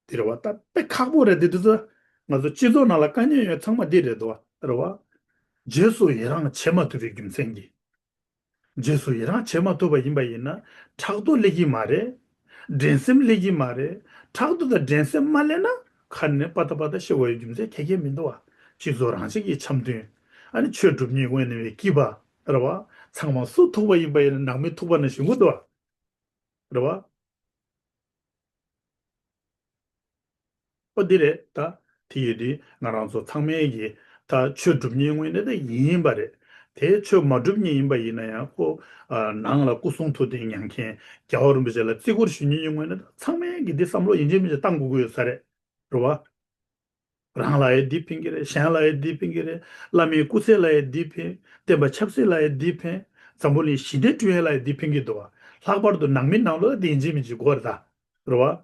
དེ་རེད་བ། ད་དཔེ་ཁག་པོ་རེད་དེ་དུས་སུ། ང་ཚོ་སྤྱི་ཚོགས་ནང་ལ་དཀའ་ཉེན་ཡོད་ཚང་མ་འདི་རེད་དོ། རེད་བ། རྗེས་སུ་ཡི་རངས་བྱེད་མ་ཐུབ་པའི་རྒྱུ་མཚན་གྱིས། རྗེས་སུ་ཡི་རངས་བྱེད་མ་ཐུབ་པ་ཡིན་པ་ཡིན་ན། ཕྲག་དོག་སླེབས་ཀྱི་མ་རེད། འགྲན་སེམས་སླེབས་ཀྱི་མ་རེད། ཕྲག་དོག་དང་འགྲན་སེམས་མ་སླེབས་ན། ཁ་ནས་སྤ་ད་སྤ་ད་ཤི་བ་ཡི་རྒྱུ་མཚན་གལ་ཆེན་མི་འདུག་བ། སྤྱི་ཚོགས་རང་བཞིན་གྱི་འཆམ་མཐུན། ཨ་ནི་ཆོས་སྒྲུབ་གཉིས་དབེན་ནི་བའི་སྐྱིད་པ། རེད་བ། ཚང་མ་སུ་ཐུག་པ་ཡིན་པ་ཡིན་ན་ནང་མི་ཐུག་པ་ན་ཞིག་འུ་ཐུག་བ། རེད་བ། ཨོ་དེ་རེད་ད། དེ་ཡོད་དུས་ང་རང་ཚོ་ཚང་མའི་ཡི། ད་ཆོས་སྒྲུབ་ཉེ་སྔོན་ནས་ད་ཡིན་པ་རེད། དེ་ཆོས་མ་སྒྲུབ་ཉེ་ཡིན་པ་ཡིན་ན་ཡང་ཁོ། ནང་ལ་སྐུ་གསུང་ཐུགས་རྟེན་མྱང་མཁན་རྒྱལ་བ་རིན་པོ་ཆེ་ལ་བརྩི་བཀུར་ཞུ་ཉེ་ཉེ་སྔོན་ནས་ད་ཚང་མའི་གི་དེ་བསམ་བློ་ཡིན་ཆོས་མིན་ཆོས་བཏང་དགོས་ཀྱི་ཡོད་ས་རེད། རེད་བ། རང་ལ་ཡི་འདི་ཕན་གྱི་རེད་གཞན་ལ་ཡི་འདི་ཕན་གྱི་རེད་བླ་མའི་སྐུ་ཚེ་ལ་ཡི་འདི་ཕན། བསྟན་པ་ཆབ་སྲིད་ལ་ཡི་འདི་ཕན། འཛམ་བུ་གླིང་ཞི་བདེ་སྐྲུན་ཡས་ལ་ཡི་འདི་ཕན་གྱི་འདུག་ལྷག་པར་དུ་ནང་མི་ནང་ལོག་བདེན་ཅིང་མི་འཇིགས་གོ་རེ་ད་རེ་བ།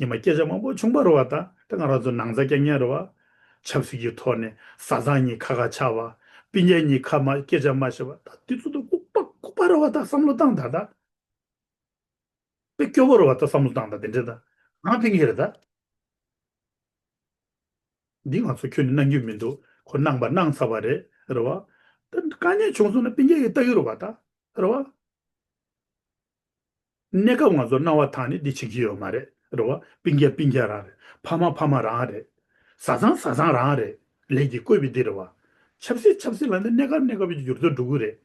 ཉི་མ་སྐད་ཆ་མང་པོ་ཆུང་པ་རེ་བ་ད་རེ་ང་རང་ཚོ་ནང་ཚ་སྐྱ་ངན་རེ་བ། ཆབ་སྲིད་ཀྱི་ཐོག་ནས་བཟའ་ཚང་གཉིས་ཁ་ཁ་ཆགས་པ། པི་ཉལ་གཉིས་ཁ་མ་སྐད་ཆ་མ་བཤད་པ་ད་དེ་ཚོ་ད་ལྐུག་པ་ལྐུག་པ་རེ་བ་ད་བསམ་བློ་བཏང་ད་ད། དེ་སྐྱོ་བོར་བ་ད་བསམ་བློ་བཏང་ད་དེ་འདྲས་ད་གང་ཕན་གི་རེད་ད། འདི་ང་ཚོ་ཁྱོད་ནི་གནང་རྒྱུ་མི་འདུག་ཁོ་གནང་པ་གནང་ཚར་བ་རེད་རེད་བ། ད་དཀའ་ཉེན་བྱུང་སོང་ན་སྤིན་རྒྱལ་གྱི་ལྟ་གི་རུ་བ་ད་རེད་བ། གནས་སྐབས་ང་ཚོར་གནང་བ་དག་ནི་འདི་བྱེད་ཀྱི་ཡོད་མ་རེད་རེད་བ། སྤིན་རྒྱལ་སྤིན་རྒྱལ་རང་རེད་ཕ་མ་ཕ་མ་རང་རེད་བཟའ་ཚང་བཟའ་ཚང་རང་རེད། ལས་ཀྱི་བཀོད་པའི་སྡེ་རེད་བ། ཆབ་སྲིད་ཆབ་སྲིད་ལ་ནི་གནས་སྐབས་གནས་སྐབས་ཀྱི་འགྱུར་རྡོ་འགྲོ་ཀུན་རེད།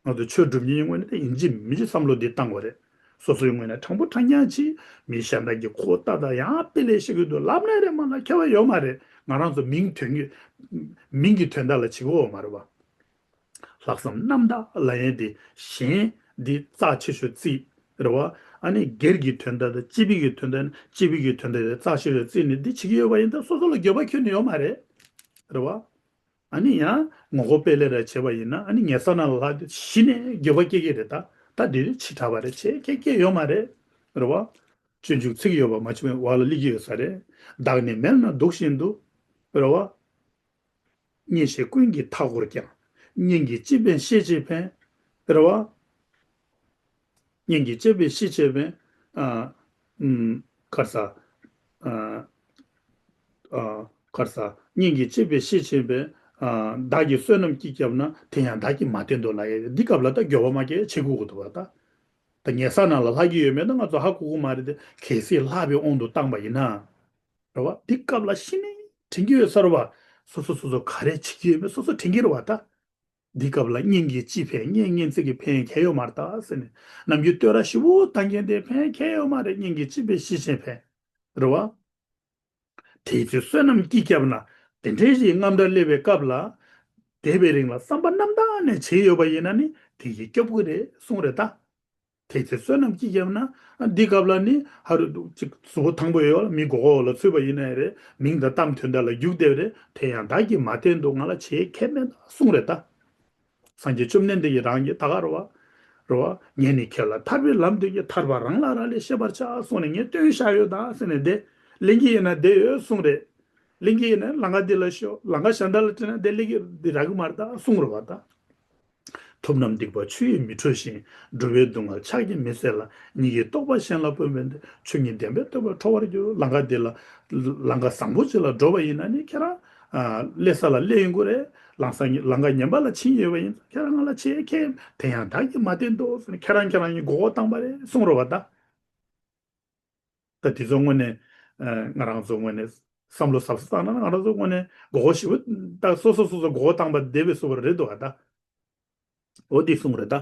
ང་ཚོ་ཆོས་སྒྲུབ་གཉིས་ངོས་ནས་ཡིན་གཅིག་མིན་གཅིག་བསམ་བློ་འདི་བཏང་བ་རེད། སོ་སོའི་ངོས་ནས་དྲང་པོ་དྲང་རྐྱང་གཅིག་མིན་ཞེ་འདྲ་གི་གོ་བལྟ་དང་ཡང་དཔེ་ལས་ཤེས་གི་འདུག་ལབ་གནས་རེད་མ་ལབ་ཁྱད་པར་ཡོད་མ་རེད་ང་རང་ཚོ་མིང་དོན་གི་མིང་གི་དོན་དག་ལ་བྱེད་གི་འོ་མ་རེད་བ། ལྷག་བསམ་རྣམ་དག་ལ་ཡན་ཏེ་གཞན། འདི་རྩ་ཆེ་ཤོས་རྩིས། རེ་བ། ཨ་ནི་སྒེར་གྱི་དོན་དག་དང་སྤྱི་བོད་ཀྱི་དོན་དག་ནི་སྤྱི་བོད་ཀྱི་དོན་དག་དེ་རྩ་ཆེ་ཤོས་རྩིས་ནས་འདི་བྱེད་ཀྱི་ཡོད་པ་ཡིན་སྟབས་སོ་སོ་ལ་འགྱོད་པ་ཁྱོན་ནས་ཡོད་མ་རེད། རེ་བ། ཨ་ནི་ཡང་ངོ་རྒོལ་སྤེལ་ལས་རེ་བྱས་པ་ཡིན་ན་ཨ་ནི་ངེད་ས་ན་ལ་ལྷག་གཞི་ནས་འགྱོད་པ་སྐྱེ་གི་རེད་ད་ད་འདི་རེ་བྱེད་དྲགས་པ་རེ་བྱེད་ཁྱེད་སྐྱེ་ཡོད་མ་རེད། རེ་བ། སྤྱོད་འཇུག་ཚིག་ཡོད་པ་མ་བྱུང་བའི་བར་ལ་གླེགས་ཀྱི་ཡོད་ས་རེད། བདག་ནི་མལ་ན་འདུག་བཞིན་དུ། རེ་བ། གཉེན་བཤེས་ཀུན་གྱི་མཐའ་བསྐོར་ཀྱང། གཉེན་གྱི་སྤྱི་ཕན་ཤེས་བྱའི་ཕན། དཔེར་བ། གཉེན་གྱི་སྤྱི་ཕན་ཤེས་བྱའི་ཕན། ཀར་ས། ཀར་ས། གཉེན་གྱི་སྤྱི་ཕན་ཤེས་བྱའི་ཕན། བདག་གི་བསོད་ནམས་ཀྱིས་བསྐྱབས་ན། དེ་ཡང་བདག་གིས་མ་བསྟེན་དུ་ལ་ཡ། འདི་སྐབས་ལ་ད་སྒྱོ་བ་མ་སྐྱེས་ཆེ་ཁུ་ཁུ་དུ་བ་ད། ད་ངེད་ས་ན་ལ་ལྷ་སྐྱེས་ཡོད་མེད་ད་ང་ཚོ་ཧ་གོ་གོ་མ་རེད་དེ། གལ་སྲིད་ལྷ་བས་དབང་དུ་བཏང་པ་ཡིན་ན། རེད་བ། འདི་སྐབས་ལ་ཤི་ནས་དྲན་གྱི་ཡོད་སར་བ། སོ་སོ་སོ་སོ་ག་རེ་བྱེད་ཀྱི་ཡོད་མེད་སོ་སོ་དྲན་གྱི་རེད་བ་ད། འདི་སྐབས་ལ་སྙིང་གི་སྤྱི་ཕན་སྙན་སྙན་ཚིག་གི་ཕན་ཁྱད་ཡོད་མར་ད་ཟེར་ནས་ནམ་རྒྱུན་བསྟོད་ར་ཞིབ་བོ་བཏང་གྱིན་དེ་ཕན་ཁྱད་ཡོད་མ་རེད་སྙིང་གི་སྤྱི་ཕན་ཤི་ཆེན་ཕན་རེད་བ། དེའི་ཚེ་བསོད་ནམས་སྐྱིད་སྐྱབས་ན་དེ་འདྲའི་རིགས་རྔམ་སྒྲ་སླེབས་པའི་སྐབས་ལ། འདས་པའི་རིང་ལ་བསམ་པ་རྣམ་དག་ནས་བྱས་ཡོད་པ་ཡིན་ན་ནི་དེ་ཡིད་སྐྱོ་པོ་རེད་གསུངས་རེད་ད། དེ་ཚེ་བསོད་ནམས་ཅི་བརྒྱབ་ན། འདི་སྐབས་ལ་ནི་ཧ་རུ་འདུག་ཅིག་གཟུ་བོ་དང་པོ་ཡོད་ལ་མི་མགོ་བོ་ལ་ཚུད་པ་ཡིན་ནའི་རེད་མིང་དང་གཏམ་དོན་འདྲ་ལ་རྒྱུགས་དེབ་རེད་དེ་ཡང་བདག་གིས་མ་བལྟས་འདུག་ང་ལ་བྱེད་མཁས་མེད་ན་གསུངས་རེ་ད། སངས་རྒྱས་བཅོམ་ལྡན་འདས་ཀྱིས་རང་གི་ད་ག་རུ་བ། རུ་བ། ངས་ནི་ཁྱེད་ལ་ཐར་པའི་ལམ་སྟོན་གྱི་ཐར་པ་རང་ལ་རང་ལས་ཤེས་པར་བྱ་གསུངས་ནས་ངས་སྟོན་བཞག་ཡོད་ད་ཟེར་ནས་བདེ། གླིང་གི་ཡིན་ན་བདེ་ཡོད་གསུངས་རེད། གླིང་གི་ཡིན་ན་ལང་ཀ་འདི་ལ་ཤོག་ལང་ཀ་གཞན་དག་ལ་བྲིས་ན་བདེ་གླིང་གི་འདི་རག་གི་མ་རེད་ད་གསུངས་རུ་བ་ད། ཐུབ་རྣམས་སྡིག་པ་ཆུ་ཡིས་མི་འཁྲུ་ཞིང་འགྲོ་བའི་སྡུག་བསྔལ་ཆགས་ཀྱིས་མི་བསད་ལ་ཉིད་ཀྱིས་རྟོགས་པ་གཞན་ལ་སྤོད་པའི་ཆོས་ཉིད་བདེན་པའི་བསྟོད་པ་འཕྲོ་བར་འགྱུར་ལང་ཀ་འདི་ལ། ལང་ཀ་བཟང་པོ་ཅིག་ལ་འགྲོ་བ་ཡིན་ན་ནི་ཁྱེད་རང། སླེ་ས་ལ་སླེ་ཡིན་དགོས་རེད། ལང་ས་ལང་ཀ་ཉན་པ་ལ་བྱིན་ཡོད་པ་ཡིན་ཚོ་ཁྱེད་རང་ང་ལ་ཆེ་ཁེ་ཡིན་དེ་ཡང་བདག་གིས་མ་བསྟན་ཏོ་ཟེར་ནས་ཁྱེད་རང་ཁྱེད་རང་གཉིས་མགོ་བོ་བཏང་བ་རེད་གསུང་རོགས་བ་ད། ད་དེ་ཚོ་དངོས་ནས། ང་རང་ཚོ་དངོས་ནས། བསམ་བློ་ཟབ་ས་བཏང་ན་ང་རང་ཚོ་དངོས་ནས་མགོ་བོ་ཞིབ་བཏགས་སོ་སོ་སོ་སོ་མགོ་བོ་བཏང་པ་བདེ་བས་སོ་བ་རེད་འདུག་ད། འོ་འདི་གསུངས་རེད་ད།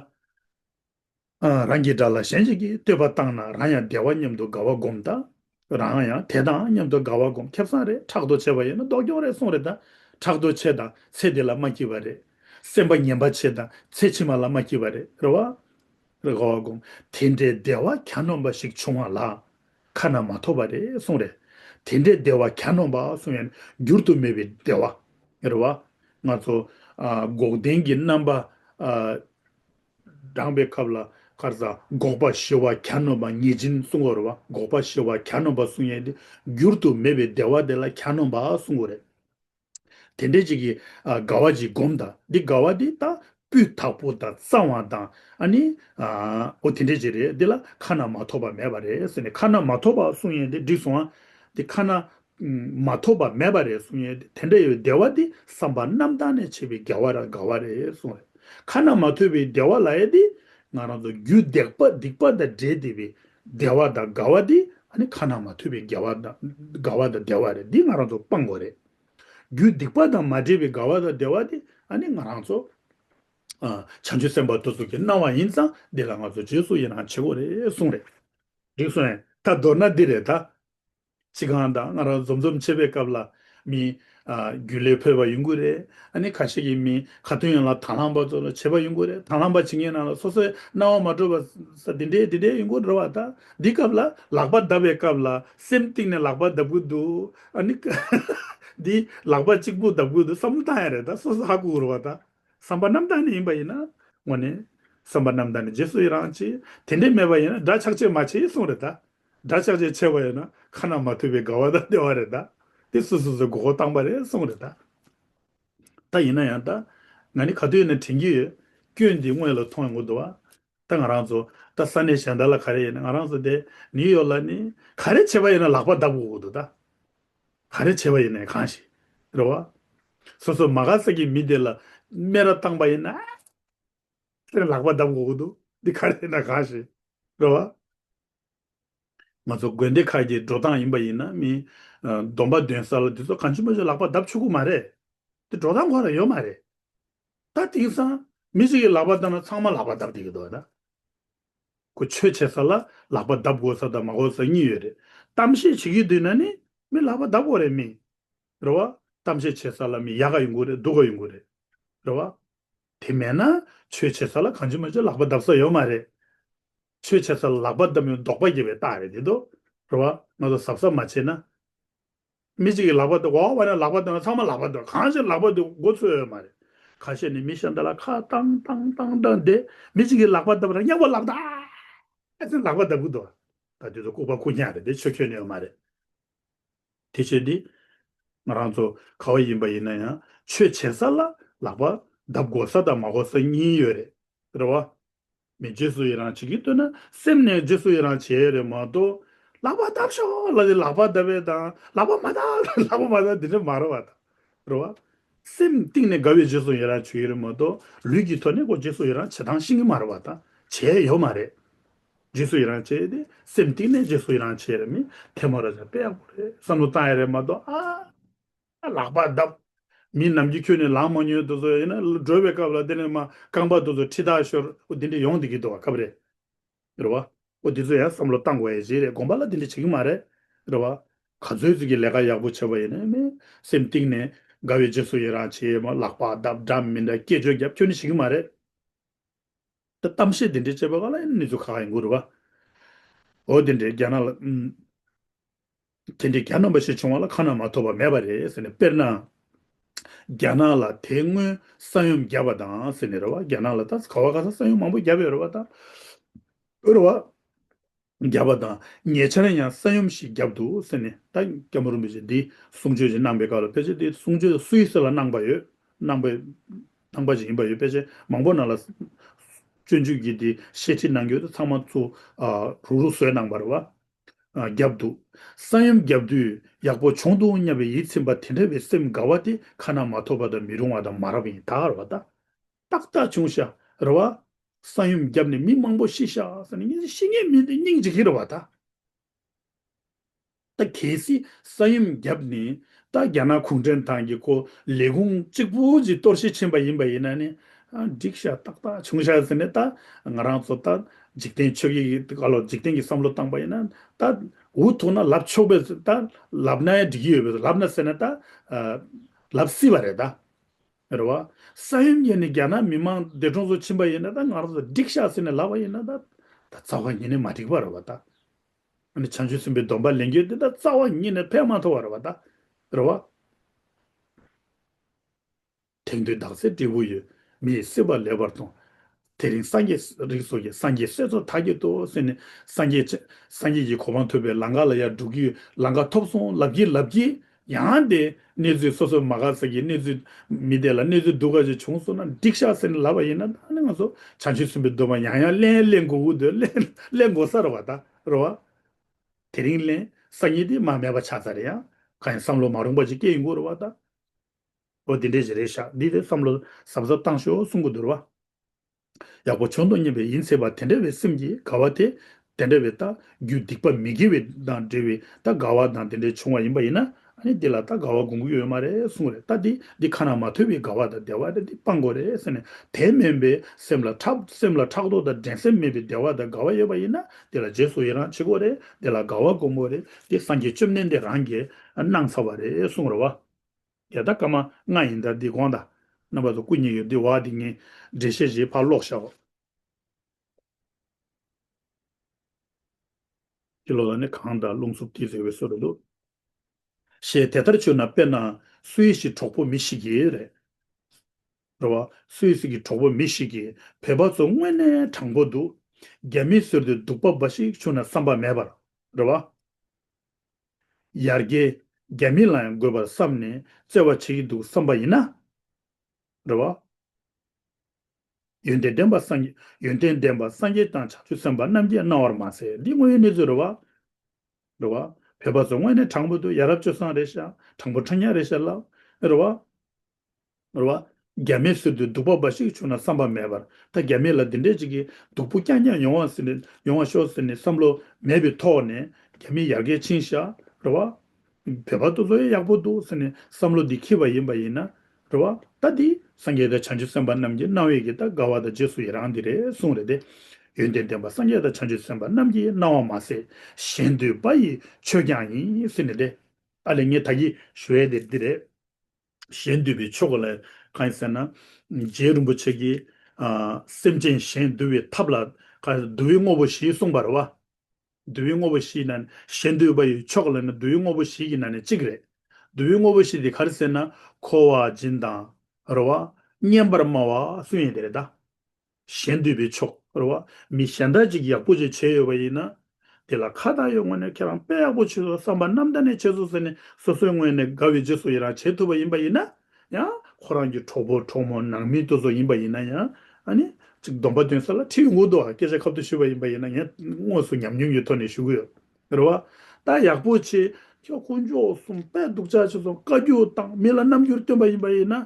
རང་གི་དགྲ་ལ་གཞན་ཞིག་གིས་བསྟོད་པ་བཏང་ན་རང་ཡང་བདེ་བ་མཉམ་དུ་དགའ་བ་སྒོམ་ད། རང་ཡང་དེ་དང་མཉམ་དུ་དགའ་བ་སྒོམ་ཁེབས་སང་རེད་ཁྲག་རྡོ་ཆེ་བ་ཡིན་ན་ལྡོག་རྒྱོག་རེད་གསུངས་རེད་ད། ཁྲག་རྡོ་ཆེ་དང་ཚེ་འདི་ལ་མ་སྐྱིད་བ་རེད། སེམས་པ་ངན་པ་ཆེ་དང་ཚེ་ཕྱི་མ་ལ་མ་སྐྱིད་བ་རེད་རེད་བ། རེད་ཧོ་དགོངས་དེ་འདྲའི་བདེ་བ་གྱ་ནོམ་པ་ཞིག་བྱུང་བ་ལ། ཁ་ན་མ་ཐོ་བ་རེད་གསུངས། རེད་དེ་འདྲའི་བདེ་བ་གྱ་ནོམ་པ་གསུངས་ཡང་འགྱུར་དུ་མེད་པའི་བདེ་བ། རེད་བ། ང་ཚོ། འགོག་བདེན་གྱི་རྣམ་པ། བགྲང་བའི་སྐབས་ལ་ཁར་ས་འགོག་པ་ཞི་བ་གྱ་ནོམ་པ་ངེས་ཅན་གསུངས་བ་རེད་བ། འགོག་པ་ཞི་བ་གྱ་ནོམ་པ་གསུངས་ཡང་འགྱུར་དུ་མེད་པའི་བདེ་བ་དེ་ལ་གྱ་ནོམ་པ་གསུངས་བ་རེད། དེ་འདྲའི་གཅིག་གིས་དགའ་བ་གཅིག་བསྒོམ་དང་འདི་དགའ་བ་འདི་ལྟ་བུས་དག་པོ་དང་གཙང་བ་དང་ཨ་ནི། འོ་དེ་འདྲའི་གཅིག་རེད་འདི་ལ་ཁ་ན་མ་ཐོ་བ་མེད་པ་རེད་ཟེར་ནས་ཁ་ན་མ་ཐོ་བ་གསུང་ཡས་འདི་འགྲིག་སོང་ཨ། འདི་ཁ་ན་མ་ཐོ་བ་མེད་པ་རེད་གསུང་ཡས་འདི་དེ་འདྲ་ཡོད་བདེ་བ་འདི་བསམ་པ་རྣམ་དག་ནས་ཆད་པའི་དགའ་བ་ར་དགའ་བ་རེད་གསུང་རེད་ཁ་ན་མ་ཐོ་བའི་བདེ་བ་ལ་ཡས་འདི་ང་རང་ཚོ་རྒྱུད་བདེག་པ་སྡིག་པ་དང་འདྲེས་བདེ་བའི་བདེ་བ་དང་དགའ་བ་དེ་ཁ་ན་མ་ཐོས་པའི་དགེ་བ་དང་དགའ་བ་དང་བདེ་བ་རེད་འདི་ང་རང་ཚོ་སྤང་གོ་རེད། རྒྱུ་སྡིག་པ་དང་མ་འདྲེས་པའི་དགའ་བ་དང་བདེ་བ་དེ་ང་རང་ཚོ་བྱང་ཆུབ་སེམས་དཔའ་ཐུགས་གསུམ་གྱི་སྣང་བ་ཡིན་ཙང་འདི་ལ་ང་ཚོ་རྗེས་སུ་ཡི་རང་བྱེད་དགོས་རེད་གསུངས་རེད། རིགས་སོ་ཡང་ད་མདོར་ན་འདི་རེད་ད། ཚིག་རྐང་དང་སྔ་རང་འཛོམས་འཛོམས་བྱེད་པའི་སྐབས་ལ། མི། རྒྱུས་ལས་འཕོས་པ་ཡོང་གི་རེད། ཨ་ནི་ཁ་ཤས་ཀྱིས་མི། ཁ་ཏོན་ཡོང་ལ་དྭང་བླངས་པ་ཚོར་བྱེད་པ་ཡོང་གི་རེད་དྭང་བླངས་པ་བྱེད་མཁན་རྣམས་ལ་སོ་སོའི་སྣང་བ་མ་འགྲོ་བ། ས་འདི་འདྲའི་འདི་འདྲའི་ཡོང་གི་རེད་བ་ད། འདི་སྐབས་ལ་ལག་པ་གདབ་པའི་སྐབས་ལ་སེམས་གཏིང་ནས་ལག་པ་གདབ་གི་འདུག་ཨ་ནི། འདི་ལག་པ་གཅིག་པུ་གདབ་གི་འདུག་བསམ་བློ་བཏང་ཡ་རེད་ད་སོ་སོ་ཧ་གོ་གི་རེད་བ་ད། བསམ་པ་རྣམ་དག་ནས་ཡིན་པ་ཡིན་ན། ངོ་ནས། བསམ་པ་རྣམ་དག་ནས་རྗེས་སུ་ཡི་རང་བྱེད། དེ་འདྲས་མེད་པ་ཡིན་ན་དགྲ་ཆགས་ཆེ་མ་བྱེད་གསུངས་རེད་ད། སྒྲ་ཅག་ཅིག་ཆད་པ་ཡོད་ན་ཁ་ན་མ་ཐོས་པའི་དགའ་བ་དང་བདེ་བ་རེད་ད། དེ་སུ་སུ་སུའི་དགོས་མཁོ་བཏང་པ་རེད་གསུངས་རེད་ད། ད་ཡིན་ན་ཡང་ད། ང་ནི་ག་དུས་ཡིན་ན་དྲན་གྱི་ཡོད། སྐྱོན་འདི་དངོས་ལ་ཐོངས་ཡོང་གི་འདུག་བ། ད་ང་རང་ཚོ་ད་ས་གནས་གཞན་དག་ལ་ག་རེ་ཡིན་ན་ང་རང་ཚོ་དེ་ནིའུ་ཡོག་ལ་ནི་ག་རེ་བྱས་པ་ཡིན་ན་ལག་པ་བརྡབ་དགོས་གི་འདུག་ད། ག་རེ་བྱས་པ་ཡིན་ན་གང་ཞིག་རེད་བ། སོ་སོ་མ་ག་ས་ཀྱི་མི་དེ་ལ་སྨད་ར་བཏང་པ་ཡིན་ན་ཨེ། ཁྱེད་ལག་པ་བརྡབ་དགོས་ཀྱི་འདུག་འདི་ག་རེད་ན་གང་ཞིག་རེད་བ། ང་ཚོ་དགོན་སྡེ་ཁག་གི་འགྲོ་སྟངས་ཡིན་པ་ཡིན་ན་མིན། སྡོམ་པ་འདོན་ས་ལ་འདི་ཚོ་གང་ཆུང་པོ་ཞིག་ལག་པ་བརྡབ་ཆོག་ཁུག་མ་རེད། འདི་འགྲོ་སྟངས་གོ་ར་ཡོད་མ་རེད། ད་དེང་སང་མི་ཞིག་གི་ལག་པ་བརྡབ་ན་ཚང་མ་ལག་པ་བརྡབ་བསྡད་ཀྱི་འདུག་བ། ཁོ་ཆོས་བྱེད་ས་ལ་ལག་པ་བརྡབ་དགོས་ས་དང་མ་དགོས་ས་གཉིས་ཡོད་རེད། གཏམ་བཤད་བྱེད་ཀྱི་དུས་ན་ནི་མི་ལག་པ་བརྡབ་དགོས་རེད་མིན། རེད་བ། གཏམ་བཤད་བྱེད་ས་ལ་མི་ཡག་ག་ཡོད་དགོས་རེད་སྡུག་ག་ཡོད་དགོས་རེད། རེད་བ། དེ་མེད་ན་ཆོས་བྱེད་ས་ལ་གང་བྱེད་མ་བྱེད་ལག་པ་བརྡབ་ས་ཡོད་མ་རེད། ཆོས་བྱེད་ས་ལ་ལག་པ་བརྡབ་ཡོང་ལྡོག་པ་སྐྱེ་བའི་རྟགས་རེད་དེ་དོ་ར་བ་ང་ཚོ་གཟབ་གཟབ་མ་བྱེད་ན། མི་གཅིག་གིས་ལག་པ་བརྡབ་གོ་བ་ནས་ལག་པ་བརྡབ་ན་ཚང་མ་ལག་པ་བརྡབ་གང་བྱེད་ལག་པ་བརྡབ་མགོ་ཚོས་ཡོད་མ་རེད། ག་ཤེད་ནས་མི་གཞན་དག་ལ་ཁ་བཏང་བཏང་བཏང་བཏང་བསྡད་མི་གཅིག་གིས་ལག་པ་བརྡབ་རང་ཉག་པོ་ལག་བརྡབ་ཨ་ཙི་ལག་པ་བརྡབ་གི་འདུག་ད་དུས་ཚོད་ལྐུག་པ་ཁུག་ཁྱང་རེད་དེ་ཆོས་ཁྱོན་ནས་ཡོད་མ་རེད། དེ་བྱས་ཏེ། ང་རང་ཚོ་ག་བ་ཡིན་པ་ཡིན་ན་ཡང་ཆོས་བྱེད་ས་ལ་ལག་པ་བརྡབ་དགོ་ས་དང་མ་གོ་ས་གཉིས་ཡོད་རེད་རེད་བ། མི་རྗེས་སུ་ཡི་རང་བྱེད་ཀྱི་འདོད་ན་སེམས་ནས་རྗེས་སུ་ཡི་རང་བྱེད་ཡོད་རེད་མ་གཏོགས། ལག་པ་བརྡབ་ཤོག་ལ་ནི་ལག་པ་བརྡབ་པའི་དང་ལག་པ་མ་བརྡབ་ལ་ལག་པ་མ་བརྡབ་དེ་འདྲ་མ་རེད་བ་དང། རེད་བ། སེམས་གཏིང་ནས་དགའ་བའི་རྗེས་སུ་ཡི་རང་བྱེད་ཀྱི་རེད་མ་གཏོགས་ལུས་ཀྱི་ཐོག་ནས་ཀོ་རྗེས་སུ་ཡི་རང་བྱེད་སྟངས་ཤེས་ཀྱི་མ་རེད་བ་དང་བྱས་ཡོད་མ་རེད། རྗེས་སུ་ཡི་རང་བྱེད་དེ་སེམས་གཏིང་ནས་རྗེས་སུ་ཡི་རང་བྱེད་རེད་མི་ཐལ་མོ་ར་ཅག་དཔེ་ཡག་པོ་རེད་བསམ་བློ་བཏང་ཡ་རེད་མ་གཏོགས་ཨ། ལག་པ་རྡབ། མི་རྣམས་ཀྱི་ཁྱོད་ནི་ལངས་མ་མྱོས་དུ་ཚོད་ཡིན་ན་སྒྲོལ་བའི་སྐབས་ལ་དེ་ནས་མ་རྐང་པ་དུ་ཚོད་ཁྲི་དག་ཤོར་ཨོ་དེ་འདྲས་ཡོང་དེ་གི་འདུག་བ་ཁབ་རེད་རེད་བ། ཨོ་དེ་ཚོད་ཡང་བསམ་བློ་བཏང་དགོས་ཡ་ཅི་རེད་དགོངས་པ་ལ་དེ་འདྲས་བྱེད་གི་མ་རེད་རེད་བ། ག་ཚོད་ཚོད་ཀྱི་ལས་ཀ་ཡག་པོ་བྱེད་པ་ཡིན་ན་མི་སེམས་གཏིང་ནས་དགའ་བའི་རྗེས་སུ་ཡི་རང་བྱེད་མ་ལག་པ་རྡབ་འདྲ་མི་འདྲ་སྐད་ཅོ་རྒྱབ་ཁྱོད་ནི་བྱེད་གི་མ་རེད། ད་གཏམ་བཤད་འདི་འདྲའི་དཔྱད་པ་ག་ལ་ཡིན་ནི་ཚོ་ག་ཡིན་གུ་རུ་བ། ཨོ་དེ་འདྲའི་རྒྱ་ནག་ལ། དེ་འདྲའི་གྱ་ནོམ་པ་ཞིག་བྱུང་བ་ལ་ཁ་ན་མ་ཐོ་བ་མེད་པ་རེད་ཟེར་ནས་དཔེར་ན། རྒྱ་ནག་ལ་དེ་སྔོན་ས་ཡོམ་བརྒྱབ་པ་དང་ཟེར་ནས་རེད་བ་རྒྱ་ནག་ལ་ད་ག་བ་ག་ས་ས་ཡོམ་མང་པོ་བརྒྱབ་ཡོད་རེད་བ་ད། གུ་རུ་བ། བརྒྱབ་པ་དང་ཉེ་ཆར་ཡང་ས་ཡོམ་ཞིག་བརྒྱབ་འདུག་ཟེར་ནས་ད་སྐྱ་མུར་མི་ཚེ་འདི་གསུང་ཆོས་ཅིག་གནང་པའི་སྐབས་ལ་དཔེ་ཆ་འདི་གསུང་ཆོས་སུ་ཡིས་ས་ལ་གནང་པ་ཡོད་གནང་པའི་གནང་པ་ཅིག་ཡིན་པ་ཡོད་དཔེ་ཆ་མང་པོ་ནང་ལ་སྤྱོད་འཇུག་གིས་འདི་བཤད་ཁྲིད་གནང་རྒྱུ་དེ་ཚང་མ་ཚུར་རུག་རུག་བཟོས་གནང་བར་བརྒྱབ་འདུག་ས་ཡོམ་བརྒྱབ་དུས་ཡག་པོ་བྱུང་འདུག་སྙམ་པའི་ཡིད་ཚིམ་པ་དེ་འདྲ་བའི་སེམས་དགའ་བ་དེ་ཁ་ན་མ་ཐོབ་པ་དང་མི་རུང་བ་དང་མ་རབས་ཡིན་ད་ཨ་རོ་བ་ད་ཏག་ཏག་བྱུང་ཤག་རེད་བ། ས་ཡོམ་བརྒྱབ་ནས་མི་མང་པོ་ཤི་ཤག་ཟེར་ནས་ངེད་ཚོས་ཤི་ངེས་མིན་ཏེ་སྙིང་རྗེ་གི་རེད་བ་ད། ད་གལ་སྲིད་ས་ཡོམ་བརྒྱབ་ནས་ད་རྒྱ་ནག་གུང་ཁྲན་ཏང་གི་སྐོར་ལས་ཁུངས་གཅིག་པུ་ཅིག་གཏོར་བཤིག་ཕྱིན་པ་ཡིན་པ་ཡིན་ན་ནི། འགྲིག་ཤག་ཏག་ཏག་བྱུང་ཤག་ཟེར་ནས་ད་ང་རང་ཚོ་ད་འཇིག་རྟེན་ཆོས་ཀྱི་བཀའ་ལོག་འཇིག་རྟེན་གྱི་བསམ་བློ་བཏང་པ་ཡིན་ན་ད་འུ་ཐུག་ན་ལབ་ཆོག་པས་ད་ལབ་ན་ཡང་འགྲིག་གི་ཡོད་པས་ལབ་ན་ཟེར་ན་ད་ལབ་སྲིད་བ་རེད་ད། རེད་བ། ས་ཡོམ་ཡིན་ནི་རྒྱ་ནག་མི་མང་འདས་གྲོངས་སུ་ཕྱིན་པ་ཡིན་ན་ད་ང་རང་ཚོ་འགྲིག་ཤག་ཟེར་ནས་ལབ་པ་ཡིན་ན་ད། ད་རྩ་བ་ཉིད་ནས་མ་འགྲིག་པ་རེད་བ་ད། ཨ་ནི་བྱང་ཆུབ་སེམས་དཔའི་སྡོམ་པ་ལེན་རྒྱུ་དེ་ད་རྩ་བ་ཉིད་ནས་ཕན་མ་ཐོགས་བ་རེད་བ་ད། རེད་བ། དེང་དུས་དག་ཚེ་སྤྲེའུ་ཡོད་མི་ཡི་སྲིད་པ་ལེགས་པར་དང། དེ་རིང་སངས་རྒྱས་རིགས་སོགས་ཀྱི་སངས་རྒྱས་སྲས་ཚོ་དག་གི་ཏུ་སེ་ནས་སངས་རྒྱས། སངས་རྒྱས་ཀྱི་གོ་འཕང་ཐོབ་པའི་ལང་ཀ་ལ་ཡར་འགྲོ་གི་ལང་ཀ་ཐོབ་སོང་ལབ་ཀྱི་ལབ་ཀྱི། ཡང་དེ་གནས་ཚུལ་སོ་སོ་མ་ག་ཚ་གི་གནས་ཚུལ་མི་བདེ་ལ་གནས་ཚུལ་སྡུག་ག་ཅིག་བྱུང་སོང་ན་འགྲིག་ཤག་ཟེར་ནས་ལབ་པ་ཡིན་ན་ད་ནི་ང་ཚོ་བྱང་ཆུབ་སེམས་དཔའི་སྡོམ་པ་ཡང་ཡང་གླེན་གླེན་མགོ་འུར་འདོད་གླེན་མགོ་སར་བ་ད་རོ་བ། དེ་རིང་གླེན་གསར་གཉིས་དེ་མ་མེད་པ་ཆགས་ཚར་ཡང་གང་ཡང་བསམ་བློ་མ་རུང་པ་ཅིག་སྐྱེ་ཡི་འགོ་རུ་བ་ད། ཨོ་དེ་འདྲས་ཞིག་རེད་ཤག་འདི་རེད་བསམ་བློ་ཟབ་ཟབ་བཏང་ཤོག་གསུང་གི་དོར་བ། ཡག་པོ་བྱུང་འདུག་སྙན་པའི་ཡིན་ཚད་པ་དེ་འདྲ་བའི་སེམས་ཀྱི་དགའ་བ་དེ། དེ་འདྲ་བའི་རྟགས་རྒྱུ་སྡིག་པ་མི་དགེ་བའི་དང་འབྲེལ་བའི་རྟགས་དགའ་བ་དང་དེ་འདྲས་བྱུང་བ་ཡིན་པ་ཡིན་ན། འདི་ལ་རྟགས་དགའ་བ་དགོངས་ཀྱི་ཡོད་མ་རེད་གསུང་རེད་ལྟ་འདི་འདི་ཁ་ན་མ་ཐོས་པའི་དགའ་བ་དང་བདེ་བ་རེད་འདི་སྤང་དགོས་རེད་ཟེར་ནས་དེ་མིན་པའི་སེམས་ལ་ཕྲག་སེམས་ལ་ཕྲག་དོག་དང་འགྲན་སེམས་མེད་པའི་བདེ་བ་དང་དགའ་བ་ཡོད་པ་ཡིན་ན་འདི་ལ་རྗེས་སུ་ཡི་རང་བྱེད་དགོས་རེད་འདི་ལ་དགའ་བ་དགོངས་དགོས་རེད་འདི་སངས་རྒྱས་བཅོམ་ལྡན་འདས་རང་གིས་གནང་ཚར་བ་རེད་གསུང་རོགས། འདས་ད་སྐར་མ་ལྔ་ཡིན་ད་འདི་དགོངས་ད། རྣམ་པ་དང་སྐུ་གཉིས་ཡོད་འདི་བ་འདི་ངན། འགྲེལ་བཤད་བཞིའི་ཕར་ཀློག་བྱའོ། འདི་ཀློག་ད་ནི་གང་ད་རླུང་འཚུབ་ཀྱིས་རེ་བའི་སྲོལ་རེད་འདུག། ཞེས་དེ་ལྟར་བཅོས་ན་དཔེར་ན། སུའེ་སི་གྲོགས་པོ་མི་ཞིག་གིས། རེད་རེད་བ། སུའེ་སི་གི་གྲོགས་པོ་མི་ཞིག་གིས་བོད་པ་ཚོ་དངོས་གནས་དྲང་པོ་འདུག། རྒྱ་མིས་གསོལ་ཏེ་སྡུག་པ་འབའ་ཞིག་བྱུང་ན་བསམ་པ་མེད་པར། རེད་བ། ཡར་རྒྱས། རྒྱ་མི་ལའང་དགོས་པར་བསམ་ནས་བརྩེ་བ་བྱེད་ཀྱི་འདུག་བསམ་པ་ཡིན་ན། རེ་བ། ཡོན་ཏན་ལྡན་པ་སངས་ཡོན་ཏན་ལྡན་པ་སངས་རྒྱས་དང་བྱང་ཆུབ་སེམས་དཔའ་རྣམས་ཀྱིས་གནང་བར་མ་ཟད་འདི་དངོས་ཡོད་གནས་ཚུལ་རེད་བ། རེ་བ། བོད་པ་ཚོ་དངོས་གནས་དྲང་པོ་འདུག་ཡ་རབས་སྤྱོད་བཟང་རེད་ཤག་དྲང་པོ་དྲང་སྙན་རེད་ཤག་ལབ། རེ་བ། ནོར་བ། རྒྱ་མིའི་ཟུར་དུ་སྡུག་པ་འབའ་ཞིག་བྱུང་ན་བསམ་པ་མེད་པར་ད་རྒྱ་མི་ལ་འདི་འདྲས་ཅིག་གིས་སྡུག་པོ་རྐྱང་རྐྱང་ཡོང་བ་ཟིན་ཡོང་བ་ཤོག་ཟེར་ནས་བསམ་བློ་མེད་པའི་ཐོག་ནས་རྒྱ་མི་ཡར་རྒྱས་ཕྱིན་བཞག་རེད་བ། བོད་པ་ཚོ་ལོས་ཡག་པོ་འདུག་ཟེར་ནས་བསམ་བློ་འདི་འཁྱིལ་བ་ཡིན་པ་ཡིན་ན་རེད་བ། ད་འདི། སངས་རྒྱས་དང་བྱང་ཆུབ་སེམས་དཔའ་རྣམས་ཀྱི་སྣང་བས་ཀྱི་ད་དགའ་བ་དང་རྗེས་སུ་ཡི་རང་འདི་རེད་གསུངས་རེད་དེ། ཡོན་ཏན་ལྡན་པ་སངས་རྒྱས་དང་བྱང་ཆུབ་སེམས་དཔའ་རྣམས་ཀྱི་སྣང་བ་མ་ཟད་གཞན་འདུས་པ་ཡི་ཆོས་ཀྱང་ཡིན་ཟེར་ནས་དེ། ཨ་ལེ་ངས་ད་གིས་ཞུ་ཡས་དེ་འདི་རེད། གཞན་འདུལ་བའི་ཆོ་ག་ལ་གང་ཡིན་ཟེར་ན། རྗེ་རིན་པོ་ཆེ་ཀྱིས་སེམས་ཅན་གཞན་འདུལ་བའི་ཐབས་ལ། འདུལ་བའི་དངོས་པོ་བཞི་གསུངས་པར་བ། འདུལ་བའི་དངོས་པོ་བཞི་ནང་ནས་གཞན་འདུལ་བ་ཡི་ཆོ་ག་ལ་ནི་འདུལ་བའི་དངོས་པོ་བཞི་གི་ནང་ནས་གཅིག་རེད། འདུལ་བའི་དངོས་པོ་བཞི་དེ་ག་རེ་ཟེར་ན། འཁོར་བ་སྦྱིན་དང། རོལ་བ། སྙན་པར་སྨྲ་བ་སུ་ཡིན་དེ་རེད་ད། གཞན་འདུས་པའི་ཕྱོགས་རེ་བ་མི་གཞན་དག་ཅིག་ཡག་པོ་ཅིག་བྱས་ཡོད་པ་ཡིན་ན། དེ་ལ་ཁ་བཏགས་ཡོད་ངོས་ནས་ཁྱེད་རང་དཔེ་ཡག་པོ་བྱེད་སོང་བསམ་པ་ནམ་ད་ནས་བྱེད་སོང་ཟེར་ནས་སོ་སོའི་ངོས་ནས་དགའ་བའི་རྗེས་སུ་ཡི་རང་བྱེད་ཐུབ་པ་ཡིན་པ་ཡིན་ན་ཡང། ཁོ་རང་གི་གྲོགས་པོ་གྲོགས་མོ་ནང་མི་དེ་ཚོ་ཡིན་པ་ཡིན་ན་ཡང། ཨཱ་ནི། སྡོམ་པ་འདོན་ས་ལ་ཁྲིད་འོང་དུ་སྐད་ཆ་ཁ་བསྡུར་ཞུས་པ་ཡིན་པ་ཡིན་ན་ངས་དངོས་སུ་ཉམས་མྱོང་གི་ཐོག་ནས་ཞུ་གི་ཡོད་རེ་བ། ད་ཡག་པོ་བྱས། ཁྱོད་དཀོན་མཆོག་གསུམ་དཔལ་སྡུག་ཆགས་བྱས་སོང་བཀའ་རྒྱུད་དང་མི་ལ་རྣམ་འགྱུར་སྟོན་པ་ཡིན་པ་ཡིན་ན།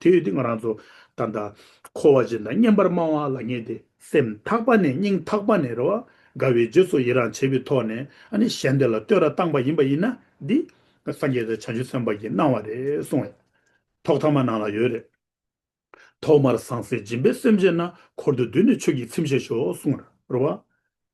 དེ་ཡོད་དེ་ང་རང་ཚོ་ད་ལྟ་འཁོར་བ་ཅན་དང་བསྙེན་པར་སྨྲ་བ་ལ་ངེས་ཏེ། སེམས་ཐག་པ་ནས་སྙིང་ཐག་པ་ནས་རེ་བ་དགའ་བའི་རྗེས་སུ་ཡི་རང་བྱས་པའི་ཐོག་ནས་ཨ་ནི་གཞན་དེ་ལ་བསྟོད་ར་བཏང་བ་ཡིན་པ་ཡིན་ན་འདི། སངས་རྒྱས་དང་བྱང་ཆུབ་སེམས་དཔའ་གྱིས་གནང་བ་རེད་གསུང་བས། ཐོག་ཐ་མ་ནང་ལ་ཡོད་རེད། ཐོག་མར་ཟང་ཟིང་སྦྱིན་པའི་སེམས་བསྐྱེད་ན་འཁོར་དུ་འདུས་ནས་ཆོས་ཀྱི་ཚིམ་བྱེད་ཤོག་གསུང་ར་བ།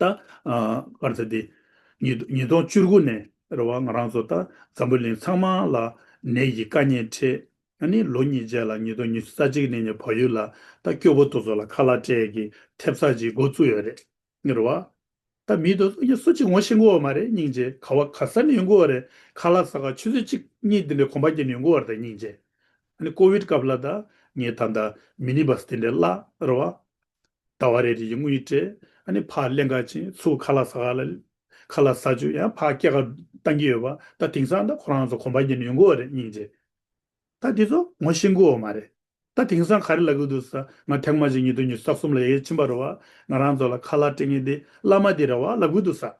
ད། སྐར་ཚེས་འདི། ཉིས་སྟོང་བཅུ་དགུ་ནས་རེད་བ་ང་རང་ཚོ་ད་འཛམ་བུ་གླིང་ཚང་མ་ལ་ནད་ཀྱི་དཀའ་ཉེན་འཕྲད་ཨ་ནི་ལོ་གཉིས་རྗེས་ལ་ཉིས་སྟོང་ཉི་ཤུ་རྩ་གཅིག་ནས་ངའི་བག་ཡོད་ལ་ད་སྐྱོ་བོ་དོ་ཚོ་ལ་ཁ་ལ་སྤྲད་གི་ཐེབས་ཚགས་ཅིག་འགོ་བཙུགས་ཡོད་རེད་རེད་བ། ད་མི་དོ་ཚོ་སུ་གཅིག་ངོ་ཤེས་མགོ་བ་མ་རེད་སྙིང་རྗེ་ག་བ་ག་ས་ནས་ཡོད་མགོ་བ་རེད་ཁ་ལ་ས་ག་ཆུ་ཚོད་གཅིག་གཉིས་དེ་འདྲའི་གོམ་པ་སྐྱེ་ནས་ཡོད་མགོ་བ་རེད་ད་སྙིང་རྗེ་ཨ་ནི་ཀོ་བིད་སྐབས་ལ་ད་ངའི་ད་ད་མི་ནི་བ་སི་དེ་འདྲའི་བརླ་རེད་བ། ད་བ་རེ་རེ་ཡི་དངུལ་སྤྲད། ཨཱ་ཕ་ཀླན་ཀ་ཅན་ཚུ་ག་ལ་ཟ་ག་ལ། ག་ལ་ཟ་ཆུ་ཡང་ཕ་སྐྱེ་ཁ་བཏང་གི་ཡོད་པ་ད་དེང་སང་ད་ཁོ་རང་ཚོ་གོམ་པ་ཉན་ཡོང་གི་འོ་རེད་སྙིང་རྗེ། ད་དེ་ཚོ་ངོ་ཤེས་གི་འོ་མ་རེད། ད་དེང་སང་ག་རེ་ལབ་གི་འདུག་ས་ང་ཐེངས་མ་ཅིག་ཉིད་དུ་ཉི་ཟག་གསུམ་ལ་ཡ་ཡ་ཕྱིན་པ་རོ་བ་ང་རང་ཚོ་ལ་ཁ་ལག་སྤྲད་ངེས་འདི་བླ་མ་འདི་ར་བ་ལབ་གི་འདུག་ས།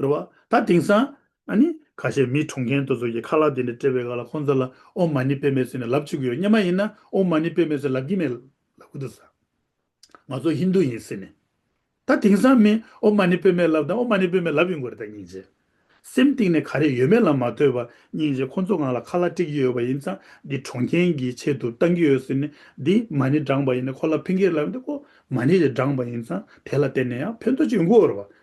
རེད་བ། ད་དེང་སང། ཨ་ནི། ཁ་ཤས་མིའི་གྲོང་ཁྱེར་དུ་ཚོ་གི་ཁ་ལག་དེ་འདྲ་སྤྲད་པའི་ག་ལ་ཁོང་ཚོ་ལ་ཨོ་མ་ནི་པེ་མེ་ཟེར་ནས་ལབ་བཅུག་གི་ཡོད་སྙམ་མ་ཡིན་ན་ཨོ་མ་ནི་པེ་མེ་ཟེར་ལབ་ཀྱི་མེད་ལབ་གི་འདུག་ཟ། ང་ཚོ་ཧིན་རྡུ་ཡིན་ཟེར་ནས། ད་དེང་སང་མིས་ཨོ་མ་ནི་པེ་མེ་ལབ་དང་ཨོ་མ་ནི་པེ་མེ་ལབ་ཡོང་གི་རེད་ད་སྙིང་རྗེ། སེམས་གཏིང་ནས་ག་རེ་ཡོད་མེད་ལ་མ་ལྟོས་པར་སྙིང་རྗེ་ཁོང་ཚོ་ང་ལ་ཁ་ལག་སྤྲད་ཀྱི་ཡོད་པ་ཡིན་ཙང་འདི་གྲོང་ཁྱེར་གྱི་ཆེད་དུ་བཏང་གི་ཡོད་ཟེར་ནས་འདི་མ་ནི་བགྲངས་པ་ཡིན་ནས་ཁོ་ལ་ཕན་གི་རེད་ལབ་ནས་ཨོ་མ་ནི་རེ་བགྲངས་པ་ཡིན་ཙང་དེ་ལ་བརྟེན་ནས་ཡང་ཕན་ཐོགས་ཅིག་ཡོང་གི་འོ་རེད་བ།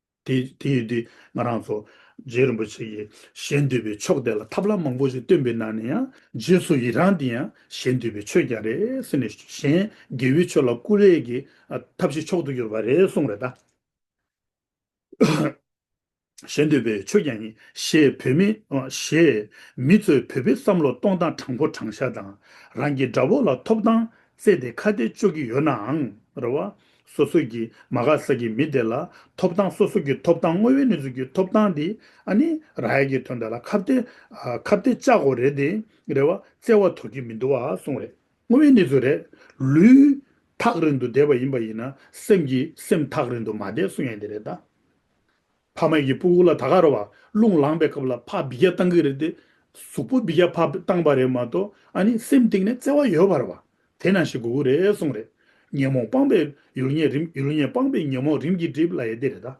དེ་ཡོད་དུས་ང་རང་ཚོ་རྗེ་རིན་པོ་ཆེ་ཡིས་གཞན་འདུལ་བའི་ཕྱོགས་དེ་ལ་ཐབས་ལམ་མང་པོ་ཞིག་བཏོན་པའི་ནང་ནས་ཡང་རྗེས་སུ་ཡི་རངས་དེ་ཡང་གཞན་འདུལ་བའི་ཆོས་ཀྱང་རེད་ཟེར་ནས་གཞན་དགེ་བའི་ཆོས་ལ་སྐུ་ལས་ཀྱི་ཐབས་ཤིག་མཆོག་ཏུ་གྱུར་པ་རེད་གསུངས་རེད་ད། གཞན་འདུལ་བའི་ཆོས་ཀྱང་ཡིན་ཞེས་བོད་མི། ཞེས་མི་ཚོས་བོད་པའི་བསམ་བློ་གཏོང་སྟངས་དྲང་པོ་དྲང་ཤ་དང་རང་གི་དགྲ་བོ་ལ་ཐོབ་ཐང་བརྩད་དེ་ཁ་གཏད་གཅོག་གི་ཡོད་ནའང་རེད་བ། སོ་སོ་ཀྱིས་མ་ག་ས་ཀྱི་མི་དེ་ལ་ཐོབ་ཐང་སོ་སོ་ཀྱི་ཐོབ་ཐང་དངོས་བོའི་གནས་ཚུལ་གྱི་ཐོབ་ཐང་དེ་ཨ་ནི་ར་ཡལ་གྱི་དོན་དེ་ལ་ཁ་བརྡའི་ཁ་བརྡའི་ལྕགས་སྒོ་རེད་དེ་རེད་བ་བཙལ་བ་དོར་གྱི་མི་འདུག་བ་གསུངས་རེད། དངོས་བོའི་གནས་ཚུལ་རེད། ལུས། ཐག་རིང་དུ་བསྡད་པ་ཡིན་པ་ཡིན་ན་སེམས་ཀྱི་སེམས་ཐག་རིང་དུ་མ་བསྡད་གསུངས་ཡ་འདི་རེད་ད། ཕ་མ་ཡི་སྤུ་གུ་ལ་ད་ག་རུ་བ་རླུང་ལངས་པའི་སྐབས་ལ་ཕ་བི་རྒྱ་བཏང་གི་རེད་དེ། གཟུགས་པོ་བི་རྒྱ་ཕ་བཏང་བ་རེད་མ་གཏོགས་ཨ་ནི་སེམས་གཏིང་ནས་བརྩེ་བ་ཡོད་བར་བ་དེ་ན་ཞིག་དགོས་གི་རེད་གསུངས་རེད། ཉོན་མོངས་སྤངས་པའི་ཡུལ་ཉེ་རིམ་ཡུལ་ཉེ་སྤངས་པའི་ཉོན་མོངས་རིམ་གྱིས་བསྒྲིབས་ལ་ཡེ་དེ་རེད་ད།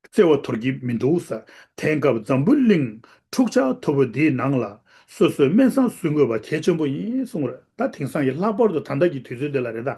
བརྩེ་བ་དོར་གི་མི་འདུག་ས་དེང་སྐབས་འཛམ་བུ་གླིང་འཁྲུག་ཆ་དོ་བོ་འདིའི་ནང་ལ་སོ་སོའི་སྨན་བཟང་བཟོས་དགོས་བ་གལ་ཆེན་པོ་ཡིན་གསུངས་རེད་ད་དེང་སང་གི་ལྷག་པར་དུ་ད་ལྟ་གི་དུས་ཚོད་འདི་ལ་རེད་ད།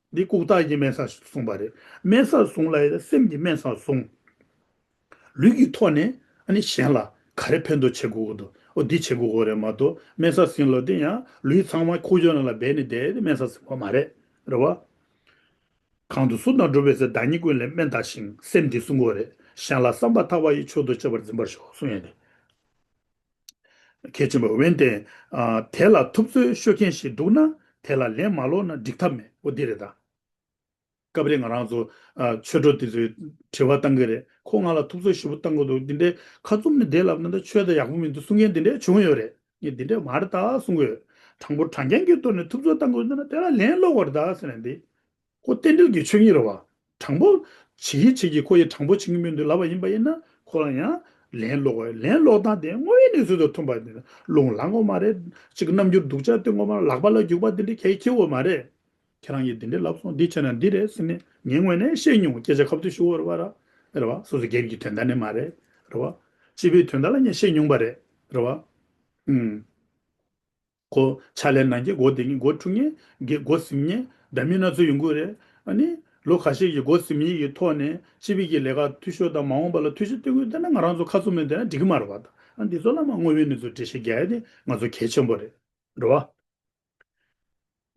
འདི་ལྐུགས་རྟགས་ཀྱི་དམན་ས་གསུངས་པ་རེད། དམན་ས་གསུངས་ལ་སེམས་ཀྱི་དམན་ས་གསུངས། ལུས་ཀྱི་ཐོག་ནས་གཞན་ལ་ག་རེ་ཕན་ཐོགས་བྱེད་དགོས་དགོས་འདུག་འདི་བྱེད་དགོས་དགོས་རེད་མ་གཏོགས་དམན་ས་ཟིན་ལོ་དེ་ཡང་ལུས་ཚང་མ་ཁུག་ཅོ་ནང་ལ་སྦས་ནས་བསྡད་དེ་དམན་ས་ཟིན་པ་མ་རེད་རེད་བ། གང་དུ་གཟུགས་དང་གྲུབ་པའི་ཟེར་བདག་ཉིད་ཀུན་ལས་དམན་རྟགས་ཤིང་སེམས་འདི་གསུངས་དགོས་རེད་གཞན་ལ་བསམ་པ་ཐག་པ་ཡི་ཆོས་དུ་བྱེད་པར་འཛིན་པར་ཤོག་གསུངས་ཡོད་རེད། གལ་ཆེན་པོ་འོན་ཏེ། དེ་ལ་ཐུབ་ཚོད་ཤོད་མཁན་ཞིག་འདུག་ན་དེ་ལ་ལན་མ་སློག་ན་འགྲིག་ཐབས་མེད་པོ་འདི་རེད་ད། སྐབས་རེ་ང་རང་ཚོ་ཆོས་གྲོགས་དེ་ཚོས་དྲི་བ་བཏང་གི་རེད་ཁོ་ང་ལ་ཐུབ་ཚོད་ཞིབ་པོ་བཏང་གི་འདུག་འདི་འདྲའི་ཁ་བཙུམ་ནས་བསྡད་ལབ་ན་ད་ཆོས་ད་ཡག་པོ་མི་འདུག་གསུང་མཁན་འདི་འདྲ་བྱུང་ཡོད་རེད་ངས་འདི་འདྲའི་མ་རེད་ད་གསུང་གི་ཡོད་དྲང་པོ་དྲང་རྐྱང་གི་ཐོག་ནས་ཐུབ་ཚོད་བཏང་གི་འདུག་ན་དེ་ལ་ལན་སློག་གོ་རེད་ད་ཟེར་ནས་འདི། ཁོ་རྟེན་འབྲེལ་གྱི་ཆོས་ཉིད་རོལ་བ། དྲང་པོ། བྱེད་ཡིད་བྱེད་ཀྱིས་ཁོ་ཡི་དྲང་པོ་བྱེད་ཀྱི་མིང་དུ་ལབ་པ་ཡིན་པ་ཡིན་ན་ཁོ་རང་ཡང། ལན་སློག་བ། ལན་སློག་སྟངས་དེ་དངོས་ཡོད་གནས་ཚུལ་དང་མཐུན་པ། རླུང་ལངས་འོ་མ་རེད། གཅིག་རྣམ་འགྱུར་སྡུག་ཅག་སྟོན་འོ་མ་ལག་པ་ལ་རྒྱུག་པ་འདི་འདྲའི་གལ་ཆེ་བོ་མ་རེད། ཁྱེད་རང་གིས་འདི་འདྲའི་ལབ་སོང་འདི་བྱས་ན་འདི་རེད་ཟེར་ནས་ངའི་ངོས་ནས་བཤད་མྱོང་སྐད་ཆ་ཁ་བརྡུང་ཞུ་འོར་བ། རེད་བ། སོ་སོ་སྒེར་གྱི་དོན་དག་ནི་མ་རེད། རེད་བ། སྤྱི་པའི་དོན་དག་ལ་ངས་བཤད་མྱོང་བ་རེད། རེད་བ། ཨུམ། སྒོ། ཕྱག་ལས་ནང་གི་སྒོ་དེ་གཉིས་སྒོ་དྲུག་ཉེ། དགེ་སྒོ་གཟིམ་ཉེ། སྒྲ་མི་སྣ་ཚོ་ཡོང་ཁུལ་རེད། ནི། ལོ་ཁ་ཤས་ཀྱི་སྒོ་གཟིམ་ཡིག་གི་ཐོག་ནས་སྤྱི་བེད་ཀྱི་ལས་ཀ་འཐུས་ཤོར་དང་མ་འོངས་པ་ལ་འཐུས་ཤོར་སྟེར་ཁུལ་བསྟེར་ན་ང་རང་ཚོ་ཁ་ཚུགས་མེད་འདོད་ན་འགྲིག་གི་མ་རེད་བ་ད། འདི་ཚོ་བླ་མ་དངོས་ཡོད་གནས་ཚུལ་འགྲེལ་བཤད་རྒྱག་ཡ་དེ་ང་ཚོ་གལ་ཆེན་པོ་རེད། འགྲོ་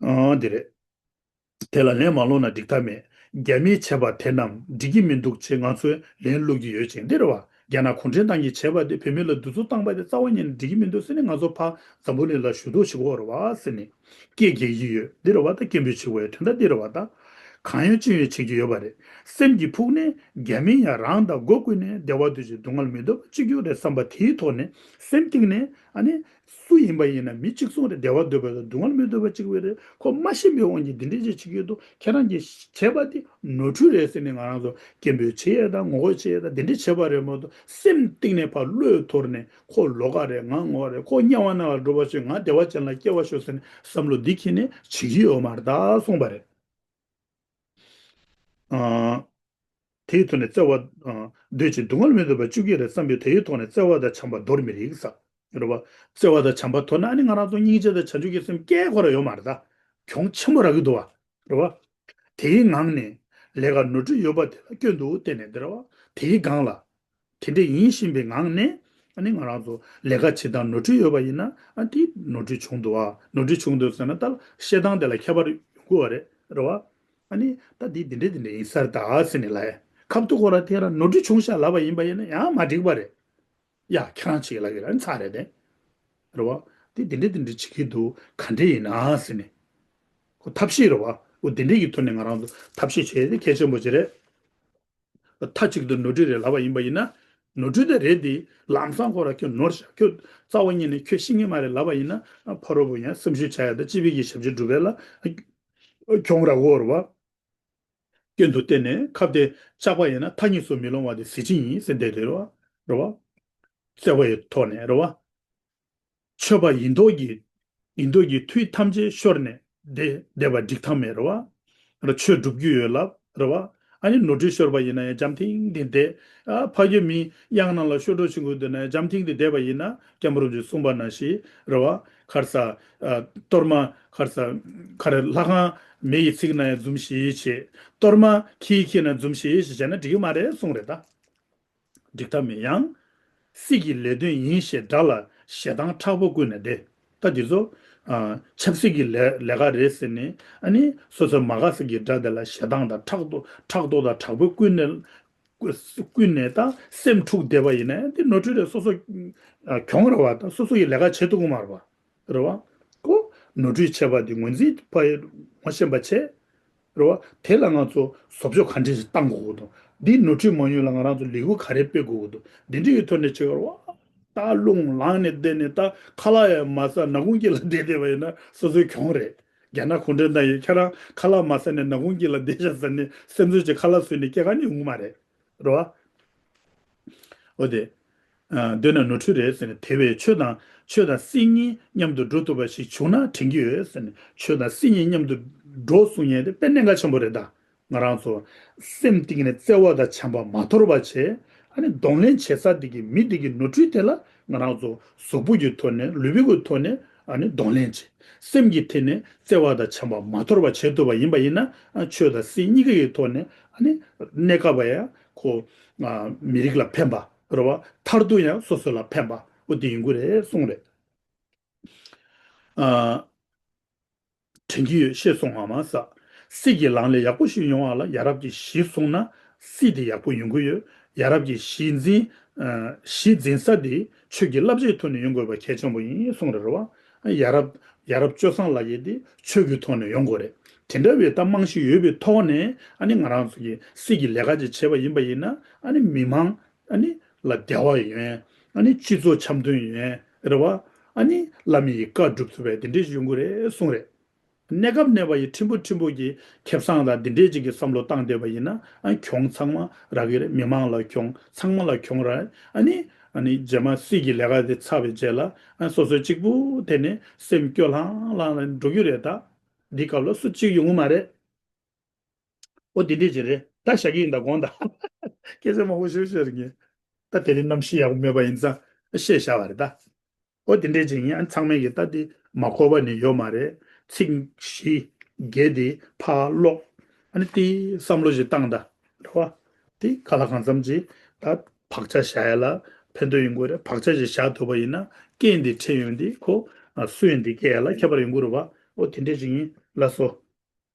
བ། འདི་རེད། དེ་ལ་ལན་མ་སློག་ན་འགྲིག་ཐབས་མེད། རྒྱ་མིས་བྱས་པ་དེ་རྣམས་འགྲིག་གི་མི་འདུག་ཅེས་ང་ཚོས་ལན་བསློག་གི་ཡོད་ཅིང་འདིར་བ་རྒྱ་ནག་གུང་ཁྲན་ཏང་གིས་བྱས་པ་དེ་བོད་མི་ལ་བདུད་ཚུགས་བཏང་པ་དེ་རྩ་བ་ཉིད་ནས་འགྲིག་གི་མི་འདུག་ཟེར་ནས་ང་ཚོ་ཕ་ཛམ་བུ་ནི་ལ་ཞུ་གཏུག་བྱེད་དགོས་བ་ཟེར་ནས་སྐད་རྒྱག་གི་ཡོད་འདིར་བ་ད་སྐད་འབོད་བྱེད་དགོས་ཡོད་དོན་དག་འདིར་བ་ད་གང་ཡོད་ཅི་ཡོད་བྱེད་ཀྱི་ཡོད་བ་རེད་སེམས་ཀྱི་ཕུགས་ནས་རྒྱ་མིས་ཡང་རང་དང་སྒོ་ཀུན་ནས་བདེ་བ་འདོད་ཅིང་སྡུག་བསྔལ་མི་འདོད་པ་གཅིག་གྱུར་རེད་བསམ་པ་དེའི་ཐོག་ནས་སེམས་གཏིང་ནས་ཨ་ནི་སུ་ཡིན་པ་ཡིན་ན་མི་གཅིག་མཚུངས་རེད་བདེ་བ་འདོད་པ་དང་སྡུག་བསྔལ་མི་འདོད་པ་གཅིག་པུ་རེད་ཁོ་མ་ཤི་བའི་དབང་གིས་འདི་འདྲའི་ཆ་བྱེད་ཀྱི་འདུག་ཁྱེད་རང་གིས་བྱས་པ་དེ་ནོར་འཁྲུལ་རེད་ཟེར་ནས་ང་རང་ཚོ་སྐད་འབོད་བྱེད་ཡས་དང་ངོ་རྒོལ་བྱེད་ཡས་དང་འདི་འདྲས་བྱས་པ་རེད་མ་གཏོགས་སེམས་གཏིང་ནས་ཕར་བློས་ཐོར་ནས་ཁོ་ལོག་ག་རེད་ང་ངོ་ག་རེད་ཁོ་དམྱལ་བ་ནང་ལ་འགྲོ་བ་ཆོད་ང་བདེ་བ་ཅན་ལ་སྐྱེ་བ་ཤོག་ཟེར་ནས་བསམ་བློ་འདི་ཁྱེད་ནས་བྱེད་ཀྱི་ཡོད་མ་རེད་ད་སོང་པ་རེད། དེའི་ཐོག་ནས་བརྩེ་བ། འདོད་ཅིང་སྡུག་བསྔལ་མི་འདོད་པ་བཅུ་གཅིག་རེ་བརྩམས་པས་དེའི་ཐོག་ནས་བརྩེ་བ་དང་བྱམས་པ་འདོར་མི་རིགས་ས། རེད་བ། བརྩེ་བ་དང་བྱམས་པ་དོར་ན་ཨ་ནི་ང་རང་ཚོ་སྙིང་རྗེ་དང་བྱང་ཆུབ་ཀྱི་སེམས་སྐྱེ་དགོས་ར་ཡོད་མ་རེད་ད། གྱོང་ཆེན་པོ་རག་གི་འདུག་བ། རེད་བ། དེའི་ངང་ནས། ལས་ཀ་ནོར་འཁྲུལ་ཡོད་པ་དེ་ལ་སྐྱོན་འདུག་བལྟས་ནས་འདི་རེད་བ། དེའི་སྒང་ལ། དེ་འདྲ་ཡིན་བཞིན་པའི་ངང་ནས། ཨ་ནི་ང་རང་ཚོ་ལས་ཀ་བྱེད་སྟངས་ནོར་འཁྲུལ་ཡོད་པ་ཡིན་ན། དེ་ནོར་འཁྲུལ་བྱུང་འདུག་ཨ། ནོར་འཁྲུལ་བྱུང་འདུག་ཟེར་ན་ད་བཤད་སྟངས་དེ་ལ་ཁྱད་པར་ཡོང་དགོས་བ་རེད། རེད་བ། ཨ་ནི་ད་དེ་དེ་འདྲ་དེ་འདྲ་ཡིན་སར་ད་ཟེར་ནས་ལ་ཡ། ཁབ་ཏུ་ཁོ་རང་དེ་རང་ནོར་འཁྲུལ་བྱུང་ཤག་ལབ་པ་ཡིན་པ་ཡིན་ན་ཡང་མ་འགྲིག་པ་རེད། ཡ། ཁྱེད་རང་བྱེད་ཀྱི་ལབ་ཀྱི་ར་ནི་ཚར་རེད་དེ། རེད་བ། དེ་དེ་འདྲ་དེ་འདྲ་བྱེད་ཀྱི་འདུག་ག་འདྲ་ཡིན་ན་ཟེར་ནས། ཁོ་ཐབས་ཤེས་རེད་བ། འོ་དེ་འདྲ་ཡི་ཐོག་ནས་ང་རང་ཚོ་ཐབས་ཤེས་བྱས་ཏེ་གལ་ཆེན་པོ་བྱེད་རེད། མཐའ་གཅིག་ཏུ་ནོར་འཁྲུལ་རེད་ལབ་པ་ཡིན་པ་ཡིན་ན། ནོར་འཁྲུལ་དེ་རེད་དེ། ལམ་སང་ཁོ་ར་ཁྱོད་ནོར་བཞག་ཁྱོད། རྩ་བ་ཉིད་ནས་ཁྱོད་ཤི་ངེས་མ་རེད་ལབ་པ་ཡིན་ན། ཕ་རོལ་པོ་ཡང་སེམས་ཤུགས་བྱ་ཡག་ད་སྤྱི་བེད་ཀྱི་ཞབས་ཕྱི་སྒྲུབ་པའི་ལ། ཁྱོད་ར་བོར་བ། སྐྱོན་དུ་བལྟས་ནས་ཁ་བདེ་བཅག་པ་ཡིན་ན་མཐའ་གཉིས་སུ་མི་ལོང་བ་དེ་གཟི་བརྗིད་ཡིན་སེམས་བདེ་རེད་ར་བ། བརྩེ་བ་ཡི་ཐོག་ནས་ར་བ། མཆོད་པ་ཡིན་མདོག་གིས། ཡིན་མདོག་གིས་དུས་ཐམས་ཅད་ཤོར་ནས་བསྡད། བསྡད་པ་འགྲིག་ཐབས་མེད་རེད་བ། ར་ཆོས་སྒྲུབ་རྒྱུ་ཡོད་ལབ་རེད་བ། ཨ་ནི་ནོར་འཁྲུལ་ཤོར་བ་ཡིན་ན་ཡང་འཇམ་ཐིང་ཐིང་བསྡད། ཕ་རྒྱལ་མིའི་དབྱངས་རྣམས་ལ་ཤོར་གྲོགས་བྱེད་དགོས་འདོད་ན་ཡང་འཇམ་ཐིང་ཐིང་བསྡད་པ་ཡིན་ན་སྐྱབས་མི་རུང་ཅེས་གསུངས་པ་ན་ཞིག་རེད་བ། ཁར་ས། གཏོར་མ། ཁར་ས། ཁ་རེ་ལྷ་ཁང། མེ་ཡི་ཚིག་ན་ཡང་འཛུམ་ཞེས་བྱེད། གཏོར་མ། ཁྱི་ཡི་ཁྱི་ན་འཛུམ་ཞེས་བྱེད་ན་འགྲིག་གི་མ་རེད་གསུངས་རེད་ད། འགྲིག་ཐབས་མེད་ཡང། སྲིད་ཀྱི་ལས་དོན་ཡིན་ཞེས་སྒྲ་ལ་ཞེ་སྡང་ཁྲག་པོ་ཀུན་ནས་བདེ། ད་འདི་ཚོ། ཆབ་སྲིད་ཀྱི་ལས་ཀ་རེད་ཟེར་ནས། ཨ་ནི། སོ་སོའི་མ་ག་སི་ཀྱི་སྒྲ་དེ་ལ་ཞེ་སྡང་དང་ཁྲག་དོག་དང་དྲག་པོའི་ཀུན་ནས། ཀུན་ནས་ད་སེམས་འཁྲུགས་བསྡད་པ་ཡིན་ན་འདི་ནོར་འཁྲུལ་རེད་སོ་སོ། གྱོང་ར་བ་དང་སོ་སོ་ཡི་ལས་ཀ་བྱེད་འདུག་གོ་མ་རེད་པ། རེད་བ། ཀོ། ནོར་འཁྲུལ་བྱས་པ་འདི་ངོས་འཛིན་ཕ་ཡིས་ངོ་ཤེས་པ་བྱས། རེད་བ། དེ་ལ་ང་ཚོ་བཟོ་བཅོས་ག་འདྲི་ཞིག་གཏང་དགོས་དགོས་དང། འདིའི་ནོར་འཁྲུལ་མང་ཉུང་ལ་ང་རང་ཚོ་ལས་འགུལ་ག་རེ་སྤེལ་དགོས་དགོས་དང། འདི་འདྲི་ཡི་ཐོག་ནས་ཆེད་གར་བ། སྟག་ལུང་ལངས་ནས་བསྡད་ནས་ད་ཁ་ལག་ཡང་མ་ཟ་ནག་ཁུང་སྐྱིད་ལ་བསྡད་བསྡད་པ་ཡིན་ན་སོ་སོའི་གྱོང་རེད། རྒྱ་ནག་གུང་ཁྲན་ཏང་ཡོན་ཁྱེད་རང་ཁ་ལག་མ་ཟ་ནས་ནག་ཁུང་སྐྱིད་ལ་བསྡད་ཤག་ཟེར་ནས་སེམས་གསོ་བྱེད་ཁ་ལག་ཟོས་ནས་སྐྱེ་ག་ནས་འོང་མ་རེད། རེད་བ། འོ་དེ། འདོད་ན་ནོར་འཁྲུལ་རེད་ཟེར་ནས་དེ་བས་ཆོས་དང་ཆོས་དང་སྲིད་གཉིས་མཉམ་དུ་འགྲོ་ཐུབ་པ་ཞིག་བྱུང་ན་དྲན་གྱི་ཡོད་ཟེར་ནས་ཆོས་དང་སྲིད་གཉིས་མཉམ་དུ་འགྲོ་གསུང་ཉན་དེ་དཔེ་གནད་འགག་ཆེན་པོ་རེད་ད་ང་རང་ཚོ་སེམས་གཏིང་ནས་བརྩེ་བ་དང་བྱམས་པ་མ་དོར་བ་བྱས་ཨ་ནི་གདོང་ལེན་བྱེད་ས་དེ་གི་མི་དེ་གི་ནོར་འཁྲུལ་དེ་ལ་ང་རང་ཚོ་གཟུགས་པོ་གི་ཐོག་ནས་ལུས་པོ་གི་ཐོག་ནས་ཨ་ནི་གདོང་ལེན་བྱས་སེམས་ཀྱི་ཐད་ནས་བརྩེ་བ་དང་བྱམས་པ་མ་དོར་བ་བྱེད་ཐུབ་པ་ཡིན་པ་ཡིན་ན་ཆོས་དང་སྲིད་གཉིས་ཀ་གི་ཐོག་ནས་ཨ་ནི་གནད་འགག་པ་ཡང་ཁོ་མི་རིགས་ལ་ཕན་པ། རེད་བ། མཐར་ཐུག་ཡང་སོ་སོ་ལ་ཕན་པ་པོ་དེ་ཡིན་ཁུལ་རེད་གསུངས་རེད། དྲན་གྱི་ཡོད་ཤེས་སོང་ང་མ་ཟ། སྲིད་ཀྱི་ལངས་ལས་ཡག་པོ་ཞིག་ཡོང་བ་ལ་ཡ་རབས་ཀྱི་གཞི་བཟུང་ན་སྲིད་དེ་ཡག་པོ་ཡོང་ཁུལ་ཡོད། ཡ་རབས་ཀྱི་གཞི་འཛིན། གཞི་འཛིན་ས་དེ་ཆོས་ཀྱི་བསླབ་བྱའི་ཐོག་ནས་ཡོང་དགོས་པ་གལ་ཆེན་པོ་ཡིན་གསུངས་རེད་བ། ཡ་རབས། ཡ་རབས་སྤྱོད་བཟང་ལ་ཡི་དེ་ཆོས་ཀྱི་ཐོག་ནས་ཡོང་དགོས་རེད། དེ་འདྲ་བའི་གཏམ་མང་ཞིག་ཡོད་པའི་ཐོག་ནས་ཨ་ནི་ང་རང་ཚོ་གི་སྲིད་ཀྱི་ལས་ཀ་ཅིག་བྱེད་པ་ཡིན་པ་ཡིན་ན་ཨ་ནི་མི་མང་ཨ་ནི་ལ་བདེ་བ་ཡོན་ཨ་ནི་སྤྱི་ཚོགས་འཆམ་མཐུན་ཡོན་རེད་བ། ཨ་ནི་བླ་མི་ཡི་བཀའ་བསྒྲུབ་ཚུལ་བས་དེ་འདྲས་ཞིག་ཡོང་དགོས་རེད་གསུངས་རེད། གནས་སྐབས་གནས་པ་ཡི་ཁྲིམས་ཕུ་ཁྲིམས་ཕུ་གྱི་ཁེབས་སངས་ལ་འདི་འདྲས་ཅིག་གི་བསམ་བློ་བཏང་སྡོད་པ་ཡིན་ན་གྱོང་ཚང་མ་ར་གི་རེད་མི་མང་ལ་གྱོང་ཚང་མ་ལ་གྱོང་རེད་ཨ་ནི་ཨ་ནི་རྗེས་མ་སྲིད་ཀྱི་ལས་ཀ་དེ་ཚར་བའི་རྗེས་ལ་སོ་སོའི་གཅིག་པུ་དེ་ནི་སེམས་སྐྱོ་ལྷང་ལྷང་ལ་འགྲོ་གི་རེད་ད་འདི་སྐབས་ལ་སུ་གཅིག་ཡོང་གི་མ་རེད། འོ་འདི་འདྲས་ཅིག་རེད་ད་བཞག་གི་ཡིན་ད་དགོངས་ད་སྐད་ཆ་མང་པོ་ཤོད་ཤོད་རེད་ངས་ད་དེ་རིང་གནམ་གཤིས་ཡག་པོ་མེད་པ་ཡིན་ཙང་བཤད་བཞག་པ་རེད་ད། ཨོ་དེ་འདྲའི་ཅིང་ཡང་ཚང་མའི་ཡི་ད་དེ་མ་འཁོར་བ་ནི་ཡོད་མ་རེད། ཚིག་བཞི། རྒྱལ་དེ་ཕ་ལོག། ཨ་ནི་དེའི་བསམ་བློ་ཞིག་བཏང་ད། རེད་བ། དེ་ག་ལ་གང་འཚམ་ཅི་ད། བག་ཆགས་བཞག་ཡ་ལ་ཕན་ཐོགས་ཡིན་དགོས་རེད་བག་ཆགས་ཞིག་བཞག་ཐུབ་པ་ཡིན་ན་སྐད་འདི་ཕྲད་ཡོང་དེ་ཁོ། སུ་ཡིན་དེ་སྐད་ཡ་ལ་ཁྱད་པར་ཡོང་དགོས་རེད་བ། ཨོ་དེ་འདྲའི་ཅིང་ཡིན་ལ་སོ།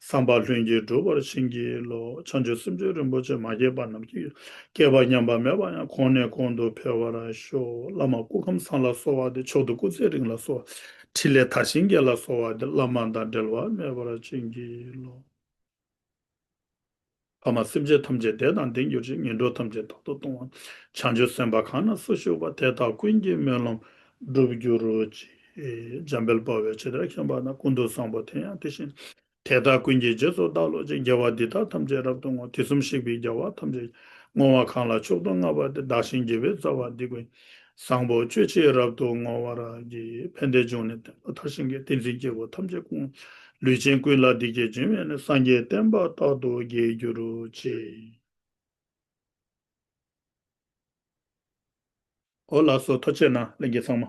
བསམ་པ་ལྷུན་གྱིས་གྲུབ་པར་བྱིན་གྱིས་རློབས། བྱང་ཆུབ་སེམས་སྤྱོད་རིན་པོ་ཆེ་མ་སྐྱེས་པ་རྣམས་ཀྱི། སྐལ་བ་ཉམས་པ་མེད་པ་ཡང་གོང་ནས་གོང་དུ་འཕེལ་བར་ཤོག། བླ་མ་སྐུ་ཁམས་བཟང་ལ་གསོལ་བ་འདེབས་མཆོག་ཏུ་སྐུ་ཚེའི་རིང་ལ་གསོལ་བ། ཕྲིན་ལས་མཐར་ཕྱིན་རྒྱས་ལ་གསོལ་བ་འདེབས་བླ་མ་དང་འབྲལ་བ་མེད་པར་བྱིན་གྱིས་རློབས། ཕ་མ་སེམས་ཅན་ཐམས་ཅད་དད་དང་ལྡན་གྱུར་ཅིག་ངན་འགྲོ་ཐམས་ཅད་དོར་དུ་གཏོང་བ། བྱང་ཆུབ་སེམས་དཔའ་གང་ན་སུ་བཞུགས་པ་དེ་དག་ཀུན་གྱི་སྨོན་ལམ་འགྲུབ་གྱུར་ཅིག། འཇམ་དཔལ་དཔའ་བོའི་ཕྱི་དར་ཁེངས་པ་ན་ཀུན་ཏུ་བཟང་པོ་དེ་ཡང་དེ་བཞིན་དེ་དག་ཀུན་གྱི་རྗེས་སུ་བདག་བློ་ཅན་རྒྱལ་བ་འདི་དག་ཐམས་ཅད་རབ་ཏུ་བསྔོ་དེ་གསུམ་གཤེགས་པའི་རྒྱལ་བ་ཐམས་ཅད་ཀྱི་བསྔོ་བ་གང་ལ་མཆོག་ཏུ་བསྔགས་པ་དེ་བདག་གཞན་དགེ་བའི་རྩ་བ་འདི་ཀུན་བཟང་པོ་སྤྱོད་བྱེད་རབ་ཏུ་བསྔོ་བར་བགྱི། ཕན་བདེ་འབྱུང་ནས་བསྟན་པ་མཐར་ཕྱིན་གྱི་ཏིང་འཛིན་སྐྱེ་བོ་ཐམས་ཅད་ཀུན། ལུས་ཅན་ཀུན་ལ་འདི་སྐད་སྦྱིན་བས་ནི་སངས་རྒྱས་བསྟན་པ་རྟག་ཏུ་རྒྱས་གྱུར་ཅིག། ཨོ་ལགས་སོ་ཐོ་ཆེ་ན་ལེན་གྱི་ཚང་མ།